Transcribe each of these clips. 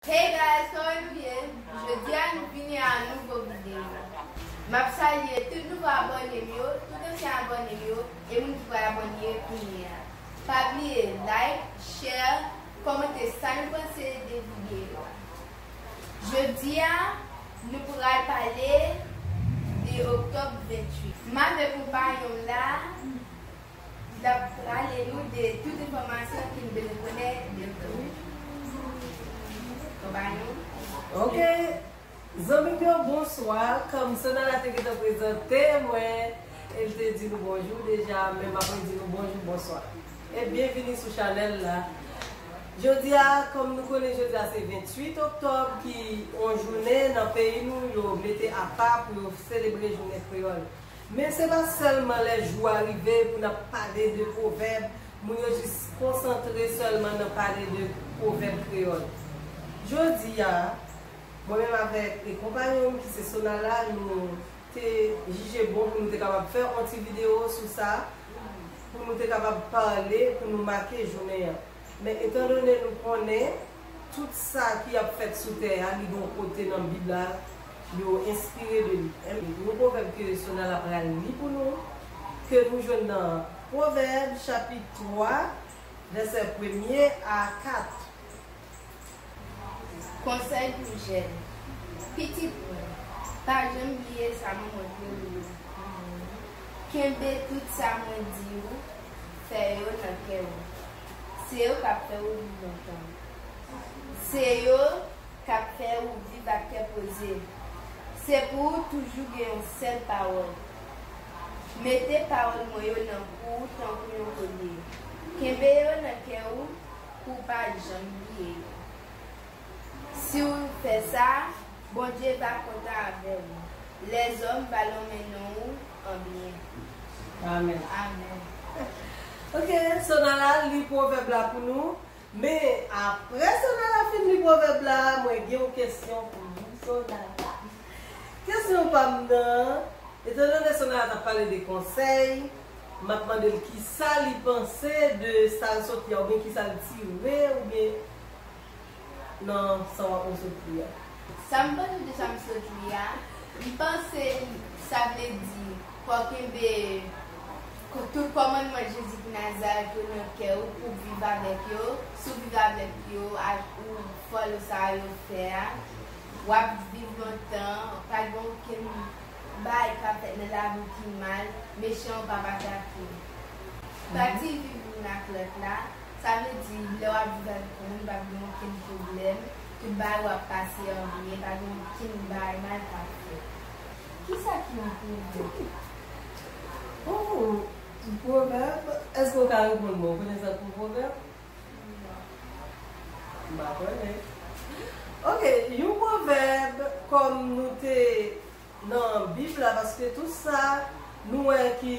Hey guys kòman nou ye jodia nou vini a yon nouvo video map salye tout nouvo abònem yo tout ansyen abònem yo e moun ki pral abòne kounye a pa bliye like share kòmante sa nou panse de video a jodia nou pral pale de octobre 28 mave konpayonm la Li tap rale nou de tout enfòmasyon ki nou bezwen konnen de vre. Ou bay nou? Ok Zanmi m yo bonswa Kòm Sonara te gentan prezante mwen e l te di nou bonjou deja men m ap redi nou bonjou bonswa e byenvini sou chanèl la Jodi a kòm nou konnen jodi a se 28 oktòb ki on jounen nan peyi nou yo mete apa pou yo selebre jounen kreyòl Men se pa sèlman lè jou a rive pou n ap pale de pwovèb, moun yo jis konsantre sèlman nan pale de pwovèb kreyòl. Jodi a, mwen menm avèk konpayon m ki se Sonala, nou te jije bon pou nou te kapab fè yon ti videyo sou sa, pou nou te kapab pale, pou nou make jounen an. Men etandone nou konnen Tout sa ki ap fèt sou tè a li gon kote nan bib la yo enspire de li e yon pwovèb ke Sonala pral li pou nou ke nou jwenn nan pwovèb chapit 3 vèsè premye a 4. Konsèy pou jèn. Pitit mwen, pa janm bliye sa mwen montre ou yo. Kenbe tout sa mwen di ou fè yo nan kè ou. Se yo kap fè ou viv lontan. Se yo kap fè ou viv ak kè poze. Se pou ou toujou gen yon sèl pawòl. Mete pawòl mwen yo nan kou ou tankou yon kolye. Kenbe yo nan kè ou pou ou pa janm bliye yo. Si ou fè sa. Bondye pa kontan avè ou. Lèzòm pa lonmen non ou an byen. Amen. Amen. Ok Sonara li pwovèb la pou nou men aprè Sonara fin li pwovèb la mwen gen yon kesyon pou ou Sonara kesyon pam nan etan done Sonara tap pale de konsèy map mandel kisa li panse de sal sofia oubyen kisa l tire oubyen nan sa wap resevri a. Sam panse de sam sot li a li panse sa vle di fòw kenbe tout kòmandman Jezi ki Nazarèt yo nan kè ou pou viv avèk yo si w viv avèk yo ak ou fòlò sa yo fè a wap viv lontan pa gen okenn bagay kap fèt nan lavi w ki mal mechan yo pa pase ak ou pati viv youn ak lòt la. Sa vle di, lè w ap viv avèk yon moun, pa gen okenn pwoblèm, tout bagay yo ap pase an byen, pa gen okenn bagay mal k ap fèt. Ki sa ki yon pwovèb? Ooh! Yon pwovèb? Èske ou ka reponn mwen? Ou konn egzanp yon pwovèb? Non. M pa konnen. Ok, yon pwovèb, kòm nou te. nan bib la paske tout sa Nou wè ki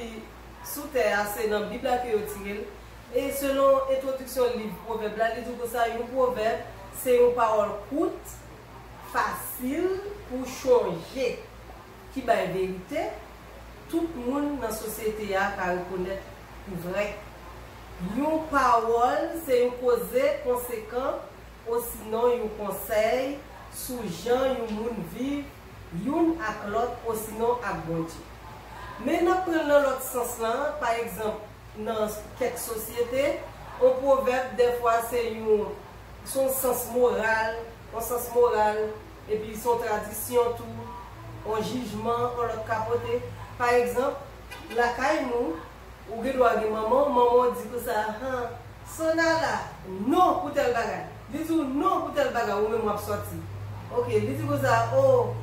Sou tè a se nan bib la ke yo tirel e selon entwodiksyon liv pwovèb la li di w konsa yon pwovèb se yon pawòl kout fasil pou chonje ki bay verite tout moun nan sosyete a ka rekonèt pou vrè yon pawòl se yon koze konsekan osinon yon konsèy sou jan yon moun viv youn ak lòt osinon ak Bondye. Men n ap pran l nan lòt sans la, pa egzanp, nan kèk sosyete, yon pwovèb dèfwa se yon se yon sans moral, yon sans moral, epi se yon tradisyon tou, yon jijman yon lòt ka pote. Pa egzanp, lakay nou, Ou gen dwa gen manman w, manman w di konsa han, Sona la, non pou tèl bagay. Li di w non pou tèl bagay, ou menm w ap sòti. Ok, li di konsa, o,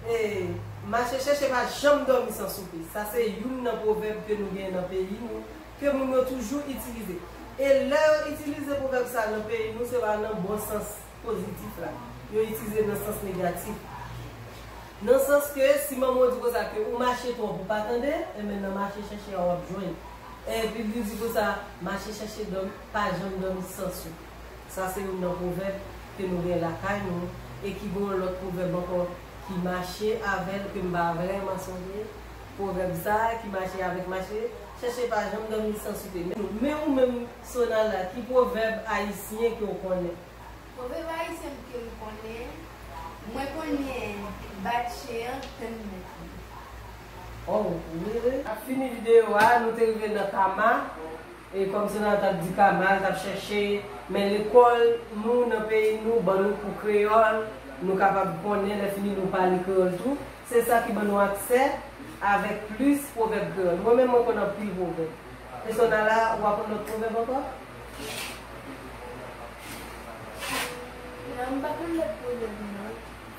e, mache chèche pa janm dòmi san soupe. Sa se youn nan pwovèb ke nou gen nan peyi nou, ke moun yo toujou itilize. E lè yo itilize pwovèb sa nan peyi nou, se pa nan bon sans. pozitif la, yo itilize l nan sans negatif. Nan sans ke si manman w di konsa ke ou mache twòp ou pa tande, enben nan mache chèche a w ap jwenn. E bib li di konsa, mache chèche dòmi, pa janm dòmi san sou. Sa se youn nan pwovèb ke nou gen lakay nou e ki gen yon lòt pwovèb ankò ki mache avè l ke m pa vrèman sonje pwovèb sa ki mache avèk mache chèche pa janm dòmi san soupe. Men ou menm Sonala, ki pwovèb ayisyen ke w konnen? Pwovèb ayisyen m ke m konnen, mwen konnen bat chen an tann mèt li. Oh really? Ap fini video a nou te rive nan kama e kòm Sonala tap di kama l tap chèche men lekòl nou nan peyi nou ban nou kou kreyòl nou kapab konnen lè fini nou pale kreyòl tou se sa ki ban nou aksè avèk plis pwovèb kreyòl mwen menm mwen konn anpil pwovèb. Pi so nan la a, ou ap yon lòt pwovèb ankò? Non, m pa konn lòt pwovèb non.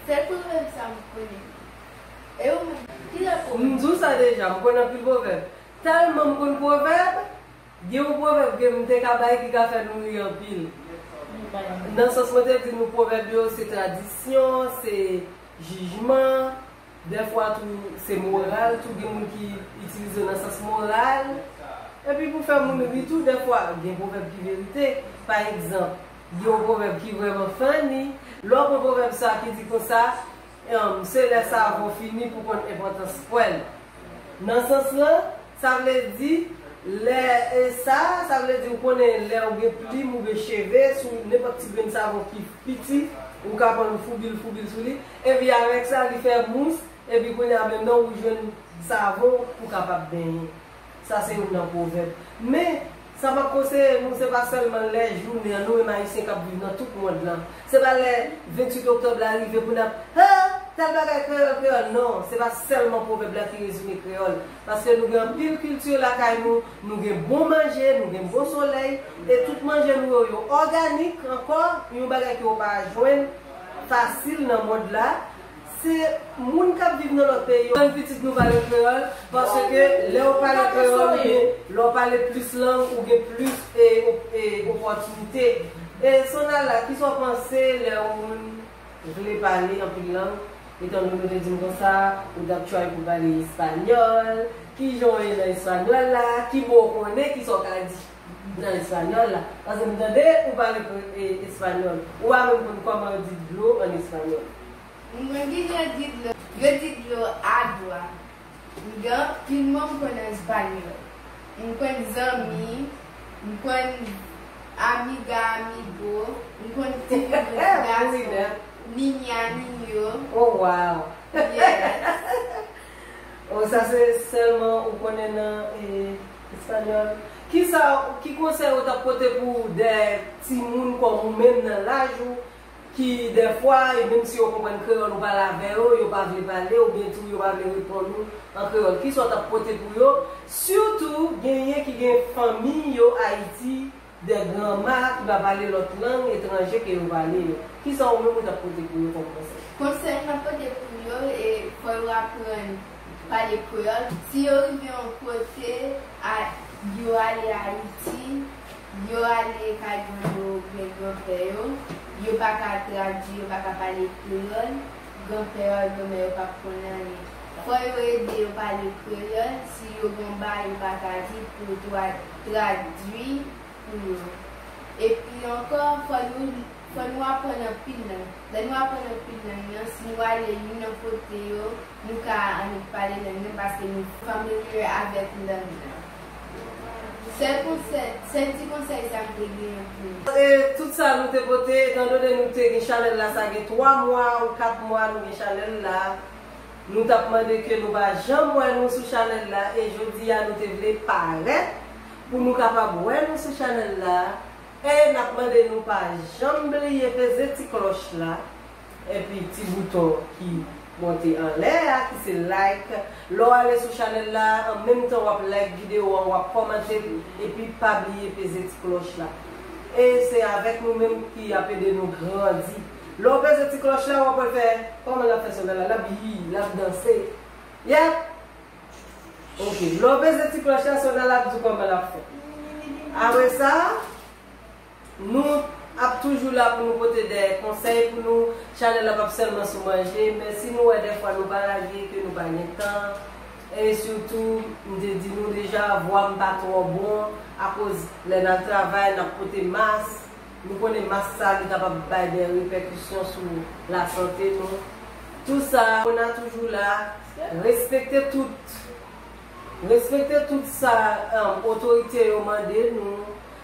Sèl pwovèb sa m konnen. E ou menm, ki lòt pwovèb ou konnen? M di w sa deja, m konnen anpil pwovèb. Tèlman m konn pwovèb, gen yon pwovèb ke m te ka bay ki ka fè nou ri anpil. Nou bay m. Nan sans mwen te di nou pwovèb yo se tradisyon, se jijman, Dèfwa tou se moral tou gen moun ki itilize yo nan sans moral. Epi pou fè moun ri tou dèfwa gen pwovèb ki verite. Pa egzanp, gen yon pwovèb ki vrèman funny, lè w pran pwovèb sa ki di konsa, Se lè savon fini pou w konn enpòtans pwèl. Nan sans lan, sa vle di, lè sa, sa vle di ou konnen lè ou gen plim oubyen cheve sou nenpòt ti grenn savon ki piti, ou ka pran l ou foubi l foubi l sou li. Epi avèk sa li fè mous epi kounye a menm nan ou jwenn savon pou kapab benyen. Sa se youn nan pwovèb. Men, sa map konseye nou se pa sèlman lè jounen an nou menm ayisyen kap viv nan tout mond lan. Se pa lè 28 oktòb la rive pou nap he! Tèl bagay kreyòl kreyòl non, se pa sèlman pwovèb la ki rezime kreyòl. Paske nou gen anpil kilti lakay nou, nou gen bon manje, nou gen bon solèy, e tout manje nou yo yo òganik ankò, yon bagay ke ou pa jwenn. fasil nan mond la se moun kap viv nan lòt peyi yo aprann pitit nou pale kreyòl paske lèw pale kreyòl ou gen lèw pale plis lang ou gen plis opòtinite e sonala kisa w panse lè yon moun vle pale anpil lang etan done w te dim konsa ou tap try pou pale espanyòl kijan w ye nan espanyòl la ki mo w konnen kisa w ka di. M nan español la. Paske m tande ou pale español. Ou pa menm konn koman yo di dlo an español. M konn kijan yo di dlo. Yo di dlo agua. M gen anpil mo m konn an español. M konn zanmi. M konn amiga, amigo. M konn fi m konn gason. Niña, niño. Oh wow. Yes. Oh sa se selman ou konnen nan Español, Kisa w, ki konsèy ou t ap pote pou de timoun kòm ou menm nan laj ou ki dèfwa e menm si yo konprann kreyòl ou pale avè yo, yo pa vle pale oubyen tou yo pa vle reponn ou an kreyòl? Kisa w t ap pote pou yo? Sitou genyen ki gen fanmi yo Ayiti. De granma ki pa pale lòt lang etranje ke yo pale yo. Kisa ou menm ou t ap pote pou yo kòm konsèy? Konsèy m ap pote pou yo e fò yo aprann pale kreyòl. Si yo rive yon kote, a yo ale Ayiti, yo ale kay grann yo oubyen granpè yo, yo pa ka tradui, yo pa ka pale kreyòl, granpè yo ak granmè yo p ap konnen anyen. Fò yo ede yo pale kreyòl, si yo gen yon bagay yo pa ka di pou yo tou al. tradui pou yo. Epi ankò, fò nou fò nou aprann anpil lang. Lè nou aprann anpil lang nan, si nou ale youn nan kote yo, nou ka annik pale lang nan paske nou familiar avèk lang nan. Sèl konsèy, sèl ti konsèy sa m te genyen pou nou. E tout sa nou te pote, etandone nou te gen chanèl la sa gen 3 mwa ou 4 mwa nou gen chanèl la, Nou tap mande ke nou pa janm wè nou sou chanèl la e jodi a nou te vle parèt pou nou kapab wè nou sou chanèl la e nap mande nou pa janm bliye peze ti klòch la epi ti bouton ki monte anlè a ki se like lè w ale sou chanèl la an menm tan wap like video an wap kòmante l epi pa bliye peze ti klòch la e se avèk nou menm ki ap ede nou grandi. Lè w peze ti klòch la, w ap wè l fè, kòman l ap fè son nan la? L ap yii, l ap danse. Yep! Ok, lè w peze ti klòch la, son nan la ap di w kòman l ap fè. Apre sa, nou ap toujou la pou nou pote de konsèy pou nou. Chanèl la p ap sèlman sou manje, men si nou wè dèfwa nou pa lage, ke nou pa gen tan, e sitou, m te di nou deja, vwa m pa twò bon, akoz lè n al travay, n ap pote mas. Nou konnen mas sa li kapab bay dè repèkisyon sou lasante nou. Tou sa, Mona toujou la, respekte tout, respekte tout sa otorite yo mande nou,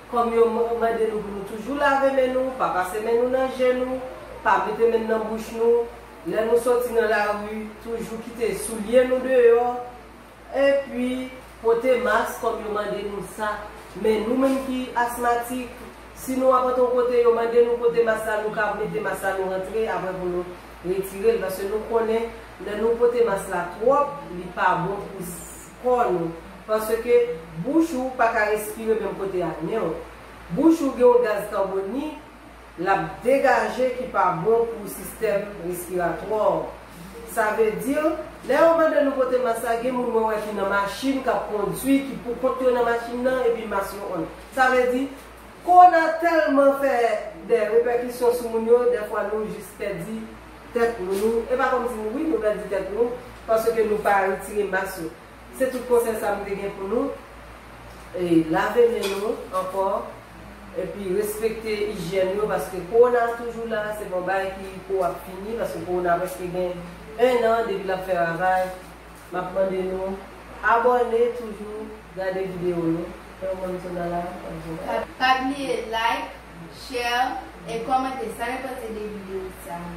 kòm yo mande nou pou nou toujou lave men nou, pa pase men nou nan je nou, pa mete men nan bouch nou, lè nou soti nan lari, toujou kite soulye nou deyò. Epi, pote mask kòm yo mande nou sa. Men nou menm ki asmatik, si nou ap antre yon kote yo mande nou pote mask la, nou ka mete mask la nou rantre apre pou nou retire l. Paske nou konnen lè nou pote mask la twòp, li pa bon pou kò nou. Paske bouch ou pa ka respire menm kote ak nen w. Bouch ou gen yon gaz kabonik l ap degaje ki pa bon pou sistèm respiratwa w. Sa vle di, lè yo mande nou pote mas la, gen moun mwen wè ki nan machin k ap kondui, ki pou kont yo nan machin nan epi mas yo on. Sa vle di, kowona tèlman fè dè repèkisyon sou moun yo, dèfwa nou jis pèdi tèt nou. E pa kòmsi, wi nou pèdi tèt nou, paske nou pa retire mas yo. Se tout konsèy sa m te gen pou nou, e lave men nou ankò epi respekte ijyèn yo paske kowona a toujou la, se pa yon bagay ki pou ap fini paske kowona a prèske gen 1 an depi l ap fè ravaj, m ap mande nou abòne toujou gade videyo nou, fè yon bann sona la ap jwenn a. Pa bliye like, share, e kòmante sa yo panse de videyo sa yo.